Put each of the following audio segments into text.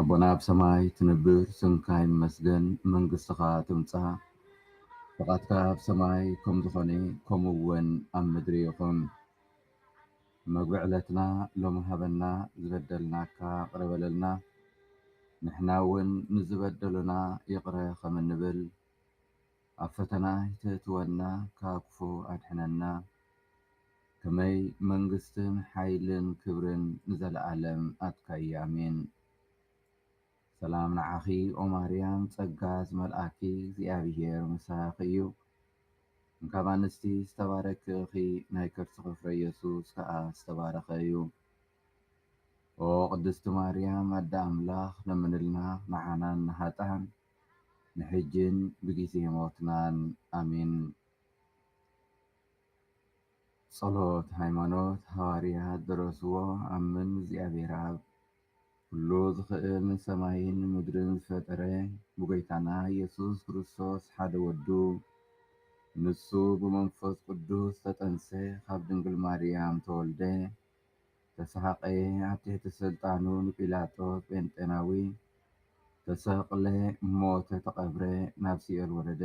ኣቦና ኣብ ሰማይ ትንብር ስምካ ይመስገን መንግስትኻ ትምጻእ ፍቃድካ ኣብ ሰማይ ከም ዝኾነ ከምኡ ውን ኣብ ምድሪ ይኹን መግቢ ዕለትና ሎሚ ሃበና ዝበደልናካ ይቅረ በለልና ንሕና ውን ንዝበደሉና ይቅረ ከም እንብል ኣብ ፈተና ኣይተእትወና ካብ ክፉ ኣድሕነና ከመይ መንግስትን ሓይልን ክብርን ንዘላኣለም ኣትካዩ ኣሜን ሰላም ንዓኺ ኦማርያም ጸጋ ዝመልኣኪ እግዚኣብሄር ምሳኺ እዩ እንካብ ኣንስቲ ዝተባረኪ እኺ ናይ ከርስኺ ፍረ የሱስ ከኣ ዝተባረኸ እዩ ኦ ቅድስቲ ማርያም ኣደ ኣምላኽ ለምንልና ንዓናን ንሃጣን ንሕጂን ብጊዜ ሞትናን ኣሜን። ጸሎት ሃይማኖት ሃዋርያት ደረስዎ ኣምን እግዚኣብሔር ኣብ ኩሉ ዝኽእል ሰማይን ምድርን ዝፈጠረ ብጎይታና ኢየሱስ ክርስቶስ ሓደ ወዱ ንሱ ብመንፈስ ቅዱስ ተጠንሰ ካብ ድንግል ማርያም ተወልደ ተሰሃቀየ ኣብ ትሕቲ ሰልጣኑ ንጲላጦስ ጴንጤናዊ ተሰቅለ ሞተ ተቀብረ ናብ ሲኦል ወረደ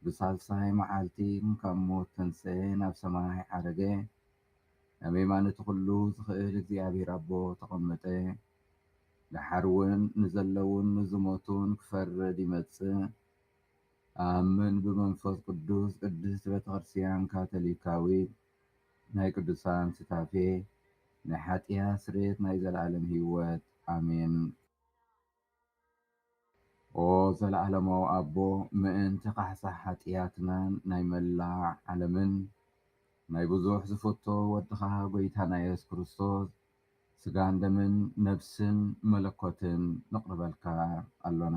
ብሳልሳይ መዓልቲ ካብ ሞት ተንሰኤ ናብ ሰማይ ዓረገ ኣብ የማን እቲ ኩሉ ዝክእል እግዚኣብሔር ኣቦ ተቀመጠ ደሓር ውን ንዘለዉን ንዝሞቱን ክፈርድ ይመጽእ ኣኣምን ብመንፈስ ቅዱስ ቅድስት ቤተክርስትያን ካቶሊካዊት ናይ ቅዱሳን ሱታፌ ናይ ሓጥያት ስርየት ናይ ዘለኣለም ሂወት ኣሜን። ኦ ዘለኣለማዊ ኣቦ ምእንቲ ካሕሳ ሓጥያትናን ናይ መላእ ዓለምን ናይ ብዙሕ ዝፍቶ ወድኻ ጎይታና የሱስ ክርስቶስ ስጋን ደምን ነብስን መለኮትን ነቅርበልካ ኣሎና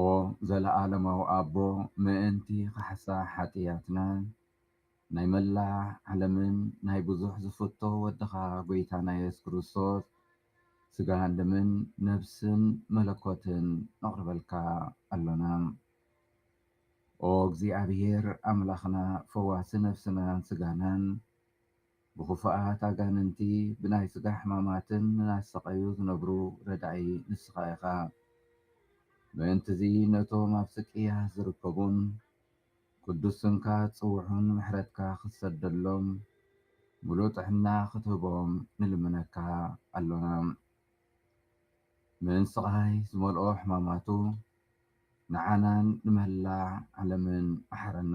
ኦ ዘለኣለማዊ ኣቦ ምእንቲ ካሕሳ ሓጥያትና ናይ መላእ ዓለምን ናይ ብዙሕ ዝፍቶ ወድኻ ጎይታና የሱስ ክርስቶስ ስጋን ደምን ነብስን መለኮትን ነቕርበልካ ኣሎና ኦ እግዚኣብሔር ኣምላኽና ፈዋሲ ነፍስናን ስጋናን ብኽፉኣት ኣጋንንቲ ብናይ ስጋ ሕማማትን እናተሰቐዩ ዝነብሩ ረዳኢ ንስኻ ኢኻ። ምእንት'ዚ ነቶም ኣብ ስቅያት ዝርከቡን ቅዱስ ስምካ ዝጽውዑን ምሕረትካ ክትሰደሎም ምሉእ ጥዕና ክትህቦም ንልምነካ ኣሎና። ምን ስቓይ ዝመልኦ ሕማማቱ ንዓናን ንመላእ ዓለምን መሓረና።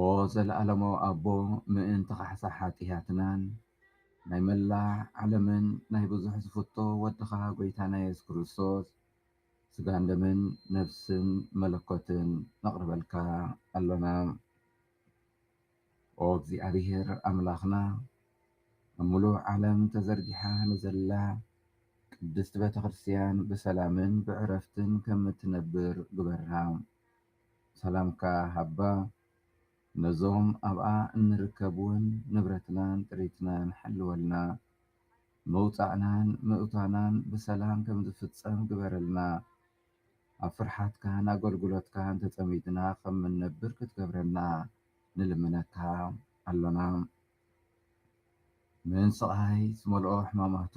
ኦ ዘለኣለማዊ ኣቦ ምእንቲ ካሕሳ ሓጥያትናን ናይ መላእ ዓለምን ናይ ብዙሕ ዝፍቶ ወድኻ ጎይታና የሱስ ክርስቶስ ስጋን ደምን ነፍስን መለኮትን ነቕርበልካ ኣሎና ኦ እግዚኣብሔር ኣምላኽና ኣብ ምሉእ ዓለም ተዘርጊሓ ንዘላ ቅድስቲ ቤተ ክርስቲያን ብሰላምን ብዕረፍትን ከም እትነብር ግበራ። ሰላምካ ሃባ ነዞም ኣብኣ እንርከብውን ንብረትናን ጥሪትናን ሐልወልና መውጻእናን ምእታናን ብሰላም ከምዝፍጸም ግበረልና ኣብ ፍርሓትካን ኣጎልጉሎትካን ተጸሚድና ከምንነብር ክትገብረልና ንልምነካ ኣሎና ምን ስቃይ ዝመልኦ ሕማማቱ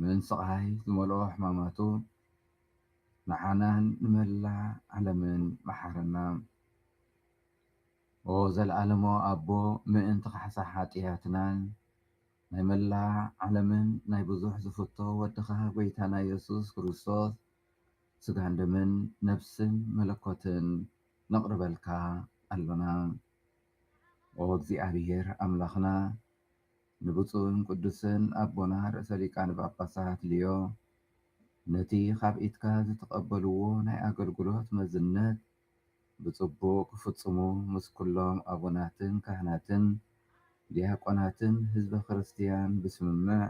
ምን ስቓይ ዝመልኦ ሕማማቱ ንዓናን ንመላእ ዓለምን መሓረና። ኦህ ዘለዓለሞ ኣቦ ምእንቲ ካሕሳ ሓጥያትናን ናይ መላእ ዓለምን ናይ ብዙሕ ዝፍቶ ወድኻ ጎይታና የሱስ ክርስቶስ ስጋን ደምን ነብስን መለኮትን ነቕርበልካ ኣሎና። ኦህ እግዚኣብሄር ኣምላኽና ንብፁዕን ቅዱስን ኣቦና ርእሰ ሊቃነ ጳጳሳት ሊዮ ነቲ ኻብ ኢድካ ዝተቐበልዎ ናይ ኣገልግሎት መዝነት ብጽቡቕ ክፍጽሙ ምስ ኵሎም ኣቡናትን ካህናትን ዲያቆናትን ሕዝበ ክርስትያን ብስምምዕ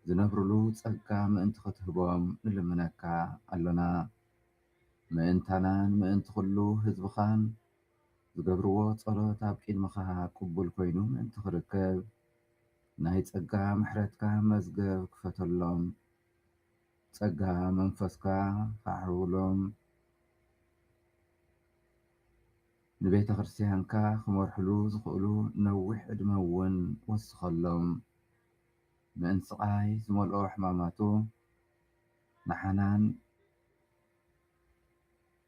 ዝነብሩሉ ጸጋ ምእንቲ ኽትህቦም ንልምነካ ኣሎና። ምእንታናን ምእንቲ ዅሉ ሕዝብኻን ዝገብርዎ ጸሎት ኣብ ቂድምኻ ቅቡል ኮይኑ ምእንቲ ክርከብ ናይ ጸጋ ምሕረትካ መዝገብ ክፈተሎም ጸጋ መንፈስካ ከዓርብሎም ንቤተ ክርስትያንካ ክመርሕሉ ዝኽእሉ ነዊሕ ዕድመ እውን ወስኸሎም ምእንቲ ስቓይ ዝመልኦ ሕማማቱ ንዓናን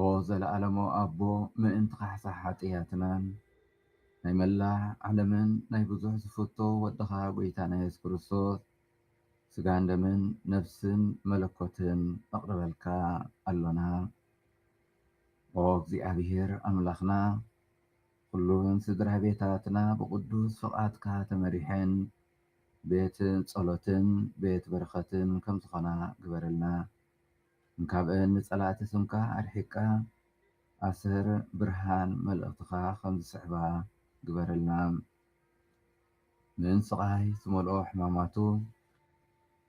ኦ ዘለኣለማዊ ኣቦ ምእንቲ ካሕሳ ሓጥያትናን ናይ መላእ ዓለምን ናይ ብዙሕ ዝፍቶ ወድኻ ጎይታና የሱስ ክርስቶስ ስጋን ደምን ነፍስን መለኮትን ነቕርበልካ ኣሎና ኦ እግዚኣብሔር ኣምላኽና ኩሉን ስድራ ቤታትና ብቕዱስ ፍቓድካ ተመሪሐን ቤት ጸሎትን ቤት በረኸትን ከም ዝኾና ግበረልና እንካብእ ንፀላእቲ ስምካ ኣርሒቅካ ኣሰር ብርሃን መልእክትካ ከም ዝስሕባ ግበረልና ምን ስቃይ ዝመልኦ ሕማማቱ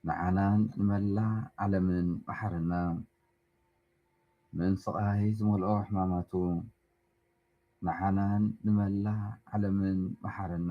ንዓናን ንመላእ ዓለምን መሓረና ምን ስቃይ ዝመልኦ ሕማማቱ ንዓናን ንመላእ ዓለምን መሓረና።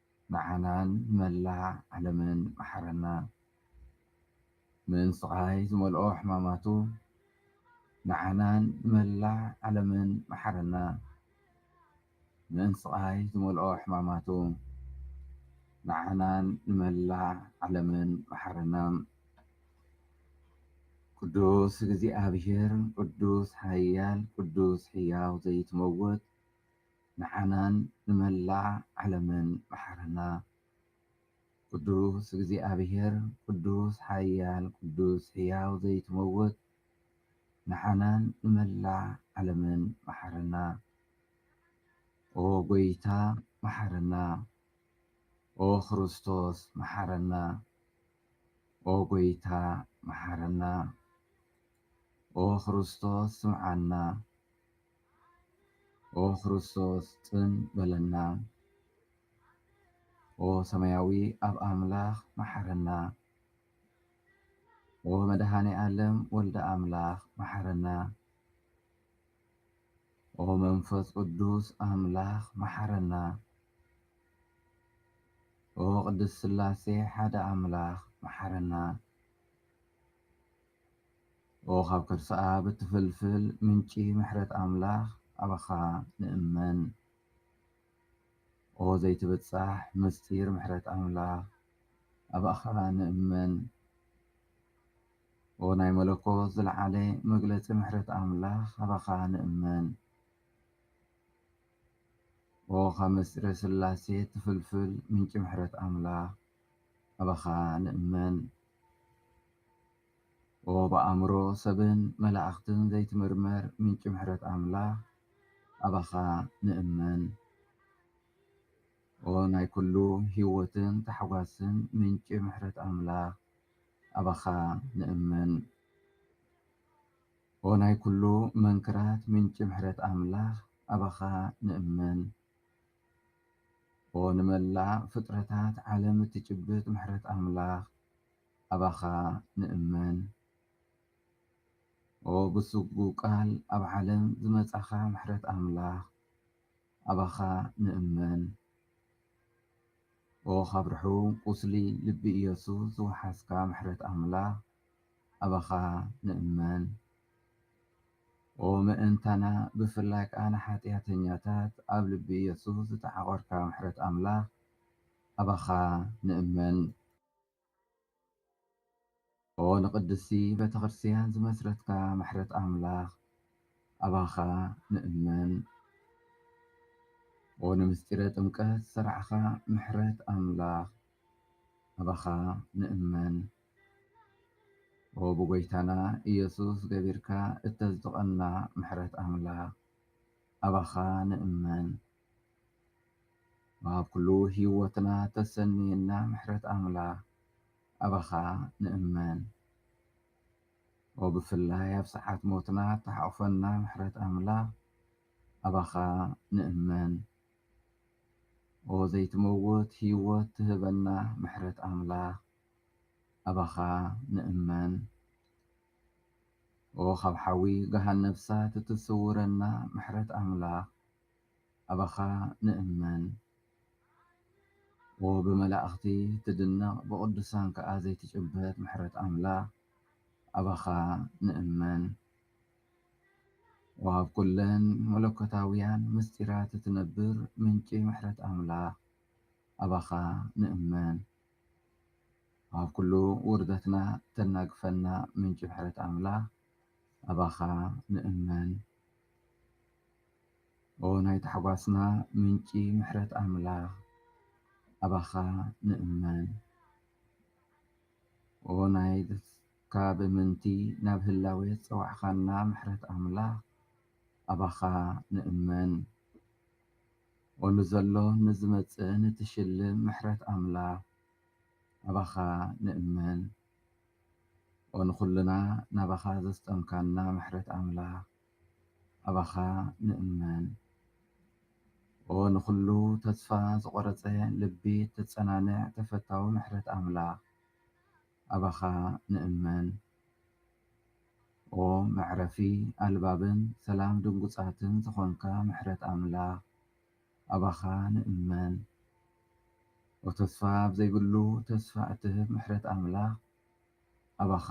ንዓናን ንመላእ ዓለምን መሓረና። ምን ስቓይ ዝመልኦ ሕማማቱ። ንዓናን ንመላእ ዓለምን መሓረና። ምን ስቓይ ዝመልኦ ሕማማቱ። ንዓናን ንመላእ ዓለምን መሓረና። ቅዱስ እግዚኣብሔር ቅዱስ ሓያል ቅዱስ ሕያው ዘይትመውት ንዓናን ንመላእ ዓለምን መሓረና ቅዱስ እግዚኣብሔር ቅዱስ ሓያል ቅዱስ ሕያው ዘይትመውት ንዓናን ንመላእ ዓለምን መሓረና ኦ ጎይታ መሓረና ኦ ክርስቶስ መሓረና ኦ ጎይታ መሓረና ኦ ክርስቶስ ስምዓና ኦ ክርስቶስ ጽን በለና ኦ ሰማያዊ ኣብ ኣምላኽ መሓረና ኦ መድሃኔ ዓለም ወልደ ኣምላኽ መሓረና ኦ መንፈስ ቅዱስ ኣምላኽ መሓረና ኦ ቅድስት ስላሴ ሓደ ኣምላኽ መሓረና ኦ ካብ ከርሳኣ ብትፍልፍል ምንጪ ምሕረት ኣምላኽ ኣባኻ ንእመን ኦ ዘይትብጻሕ ምስጢር ምሕረት ኣምላኽ ኣባኻ ንእመን ኦ ናይ መለኮት ዝለዓለ መግለጺ ምሕረት ኣምላኽ ኣባኻ ንእመን ኦ ካብ ምስጢረ ስላሴ ትፍልፍል ምንጪ ምሕረት ኣምላኽ ኣባኻ ንእመን ኦ ብኣእምሮ ሰብን መላእኽትን ዘይትምርመር ምንጪ ምሕረት ኣምላኽ ኣባኻ ንእመን። ኦ ናይ ኩሉ ሕይወትን ታሕጓስን ምንጪ ምሕረት ኣምላኽ ኣባኻ ንእመን። ኦ ናይ ኩሉ መንክራት ምንጪ ምሕረት ኣምላኽ ኣባኻ ንእመን። ኦ ንመላእ ፍጥረታት ዓለም እትጭብጥ ምሕረት ኣምላኽ ኣባኻ ንእመን። ኦ ብስጉ ቃል ኣብ ዓለም ዝመጻኻ ምሕረት ኣምላኽ ኣባኻ ንእመን። ኦ ካብ ርሑም ቁስሊ ልቢ ኢየሱስ ዝወሓስካ ምሕረት ኣምላኽ ኣባኻ ንእመን። ኦ ምእንታና ብፍላይ ከኣ ንሓጥያተኛታት ኣብ ልቢ ኢየሱስ ዝተዓቖርካ ምሕረት ኣምላኽ ኣባኻ ንእመን። ኦ ንቅድስቲ ቤተክርስትያን ዝመስረትካ ምሕረት ኣምላኽ ኣባኻ ንእመን። ኦ ንምስጢረ ጥምቀት ዝሰርዓኻ ምሕረት ኣምላኽ ኣባኻ ንእመን። ኦው ብጎይታና እየሱስ ገቢርካ እተዝጥቐና ምሕረት ኣምላክ ኣባኻ ንእመን ኣብ ኩሉ ሂወትና ተሰንየና ምሕረት ኣምላክ ኣባኻ ንእመን ኦው ብፍላይ ኣብ ሰዓት ሞትና ተሓቑፈና ምሕረት ኣምላክ ኣባኻ ንእመን ኦው ዘይትመውት ሂወት ትህበና ምሕረት ኣምላክ ኣባኻ ንእመን ኦህ ካብ ሓዊ ገሃነብ ሳት እትስውረና ምሕረት ኣምላኽ ኣባኻ ንእመን ኦህ ብመላእኽቲ እትድነቕ ብቕዱሳን ከኣ ዘይትጭበት ምሕረት ኣምላኽ ኣባኻ ንእመን ኦህ ኣብ ኩለን መለኮታውያን ምስጢራት እትነብር ምንጪ ምሕረት ኣምላኽ ኣባኻ ንእመን ኣብ ኩሉ ውርደትና እተናግፈና ምንጪ ምሕረት ኣምላኽ ኣባኻ ንእመን። ኦ ናይ ታሕጓስና ምንጪ ምሕረት ኣምላኽ ኣባኻ ንእመን። ኦ ናይ ካብ ምንቲ ናብ ህላዌ ዝጸዋዕካና ምሕረት ኣምላኽ ኣባኻ ንእመን። ኦ ንዘሎን ንዝመጽእን እትሽልም ምሕረት ኣምላኽ ኣባኻ ንእመን ኦ ንኹልና ናባኻ ዘስጠምካና ምሕረት ኣምላኽ ኣባኻ ንእመን ኦ ንኹሉ ተስፋ ዝቖረጸ ልቢ እተጸናንዕ ተፈታዊ ምሕረት ኣምላኽ ኣባኻ ንእመን ኦ መዕረፊ ኣልባብን ሰላም ድንጉጻትን ዝኾንካ ምሕረት ኣምላኽ ኣባኻ ንእመን ኦ ተስፋ ኣብ ዘይብሉ ተስፋ እትህብ ምሕረት ኣምላኽ ኣባኻ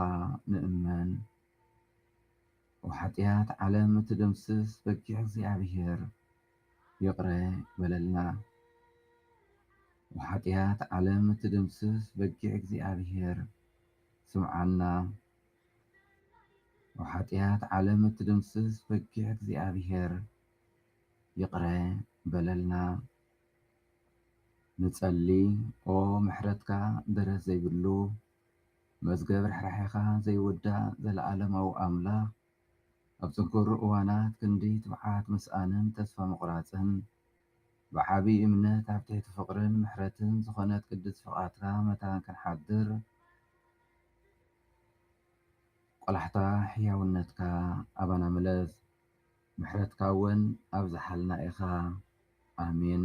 ንእመን። ወሓጥያት ዓለም እትድምስስ በጊዕ እግዚኣብሔር ይቕረ በለልና። ወሓጥያት ዓለም እትድምስስ በጊዕ እግዚኣብሔር ስምዓና። ወሓጥያት ዓለም እትድምስስ በጊዕ እግዚኣብሔር ይቕረ በለልና። ንጸሊ ኦ ምሕረትካ ደረት ዘይብሉ መዝገብ ርሕራሔኻ ዘይውዳእ ዘለኣለማዊ ኣምላኽ፣ ኣብ ጽንኩር እዋናት ክንዲ ትብዓት ምስኣንን ተስፋ ምቝራጽን፣ ብዓቢ እምነት ኣብ ትሕቲ ፍቕርን ምሕረትን ዝዀነት ቅድስት ፍቓድካ መታን ክንሓድር ቈላሕታ ሕያውነትካ ኣባና ምለስ፣ ምሕረትካውን ኣብዝሓልና ኢኻ። ኣሜን።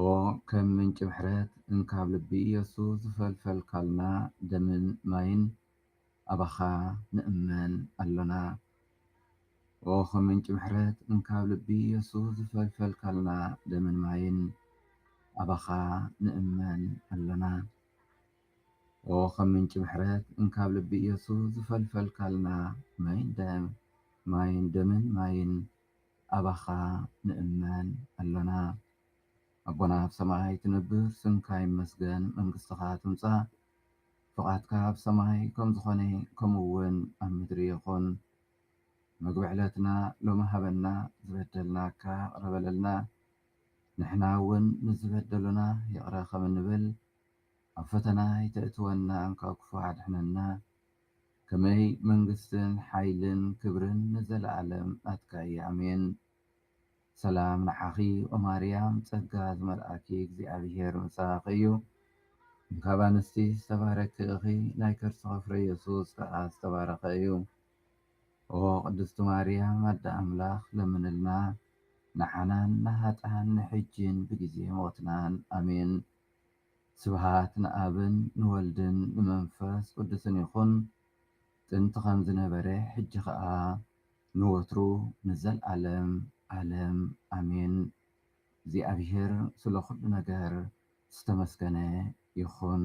ኦ ከም ምንጪ ምሕረት እንካብ ልቢ ኢየሱ ዝፈልፈልካልና ደምን ማይን ኣባኻ ንእመን ኣሎና ኦ ከም ምንጪ ምሕረት እንካብ ልቢ ኢየሱ ዝፈልፈልካልና ደምን ማይን ኣባኻ ንእመን ኣሎና ኦ ከም ምንጪ ምሕረት እንካብ ልቢ ኢየሱ ዝፈልፈልካልና ማይን ደም ማይን ደምን ማይን ኣባኻ ንእመን ኣሎና። ኣቦና ኣብ ሰማይ ትነብር ስምካ ይመስገን መንግስትኻ ትምጻእ ፍቓድካ ኣብ ሰማይ ከም ዝኾነ ከምኡ ውን ኣብ ምድሪ ይኹን መግቢ ዕለትና ሎሚ ሃበና ዝበደልናካ ይቕረ በለልና ንሕና ውን ንዝበደሉና ይቕረ ከም እንብል ኣብ ፈተና ኣይተእትወና ካብ ክፉእ ኣድሕነና ከመይ መንግስትን ሓይልን ክብርን ንዘለኣለም ናትካ እየ ኣሜን። ሰላም ንዓኺ ኦማርያም ጸጋ ዝመልኣኪ እግዚኣብሄር ምሳኺ እዩ እንካብ ኣንስቲ ዝተባረኪ እኺ ናይ ከርስኺ ፍረ የሱስ ከኣ ዝተባረኸ እዩ ኦ ቅድስቲ ማርያም ኣደ ኣምላኽ ለምንልና ንዓናን ንሃጣን ንሕጂን ብግዜ ሞትናን ኣሜን ስብሃት ንኣብን ንወልድን ንመንፈስ ቅዱስን ይኹን ጥንቲ ከም ዝነበረ ሕጂ ከኣ ንወትሩ ንዘልኣለም ኣለም ኣሜን እግዚኣብሔር ስለ ኩሉ ነገር ዝተመስገነ ይኹን።